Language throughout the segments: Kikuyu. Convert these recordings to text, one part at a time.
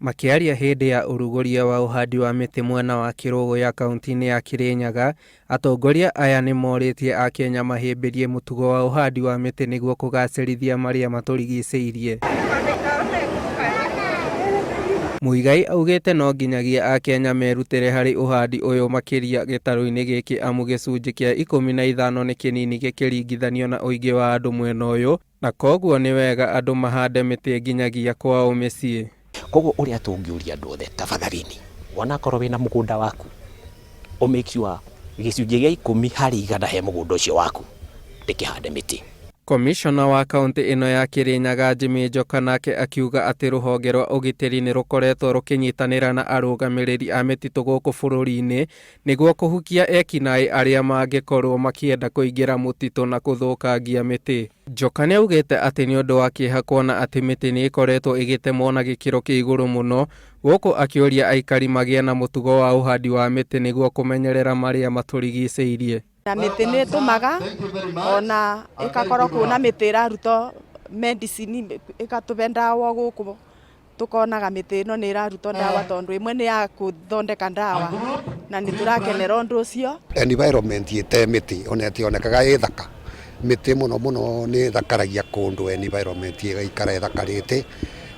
Makĩaria hĩndĩ ya ũrugũria wa ũhandi wa mĩtĩ mwena wa Kĩrũgũ ya kaunti-inĩ ya Kĩrĩnyaga, atongoria aya nĩ morĩtie Akenya mahĩmbĩrie mũtugo wa ũhandi wa mĩtĩ nĩguo kũgacĩrithia marĩa matũrigicĩirie. Muigai augĩte no nginyagia Akenya merutĩre harĩ ũhandi ũyũ makĩria gĩtarũ-inĩ gĩkĩ amu gĩcunjĩ kĩa ikũmi na ithano nĩ kĩnini gĩkĩringithanio na ũingĩ wa andũ mwena ũyũ, Na kwoguo nĩ wega andũ mahande mĩtĩ nginyagia kwao mĩciĩ. Kwoguo ũrĩa tũngĩũria andũ othe, tafadhalini, onakorwo wĩna mũgũnda waku, ũ make sure gĩcunjĩ gĩa ikũmi harĩ igana he mũgũnda ũcio waku ndĩkĩhande mĩtĩ. Komishona wa kaũntĩ ĩno ya Kĩrĩnyaga Jimmy Njoka nake akiuga atĩ rũhonge rwa ũgitĩri nĩ rũkoretwo rũkĩnyitanĩra na arũgamĩrĩri a mĩtitũ gũkũ bũrũri-inĩ Nĩguo kũhukia eki-naĩ arĩa mangĩkorũo makĩenda kũingĩra mũtitũ na kũthũkangia mĩtĩ. Joka nĩ augĩte atĩ nĩ ũndũ wa kĩeha kuona atĩ mĩtĩ nĩ ĩkoretwo ĩgĩtemwo na gĩkĩro kĩa igũrũ mũno, gũkũ akĩũria aikari magĩe na mũtugo wa ũhandi wa mĩtĩ nĩguo kũmenyerera marĩa matũrigicĩirie. Na mĩtĩ nĩ ĩtũmaga ona ĩgakorwo kuo na mĩtĩ ĩraruta medicine ĩgatũhe ndawa gũkũ tũkonaga mĩtĩ ĩno nĩ ĩraruta ndawa tondũ ĩmwe nĩ ya gũthondeka ndawa na nĩ tũrakenera ũndũ ũcio. Environment ĩte mĩtĩ ona ĩtionekaga ĩ thaka. Mĩtĩ mũno mũno nĩ ĩthakaragia kũndũ environment ĩgaikara ĩthakarĩte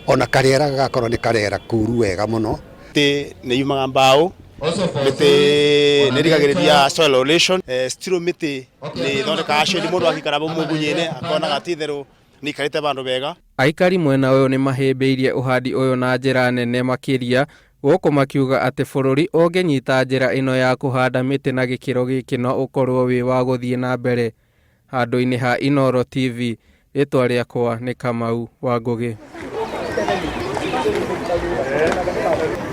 ona karĩera gagakorwo nĩ karĩera koru wega mũno. Mĩtĩ nĩ yumaga mbaũ. Also for mĩtĩ those nä rigagä rä ria ornamentals, soil erosion. Eh, stiro mä tä nä thondekaga shade må ndå akikara må ngunye-inä akonaga ti itherå nä ikarä te bandå bega Aikari mwena ũyũ nĩ mahĩmbĩirie ũhandi ũyũ na njĩra nene makĩria gũkũ makiuga atĩ bũrũri ũngĩnyita njĩra ĩno ya kũhanda mĩtĩ na gĩkĩro gĩkĩ no ũkorwo wĩ wa gũthiĩ na mbere. Handũ-inĩ ha Inoro TV, rĩtwa rĩakwa nĩ Kamau wa Ngũgĩ.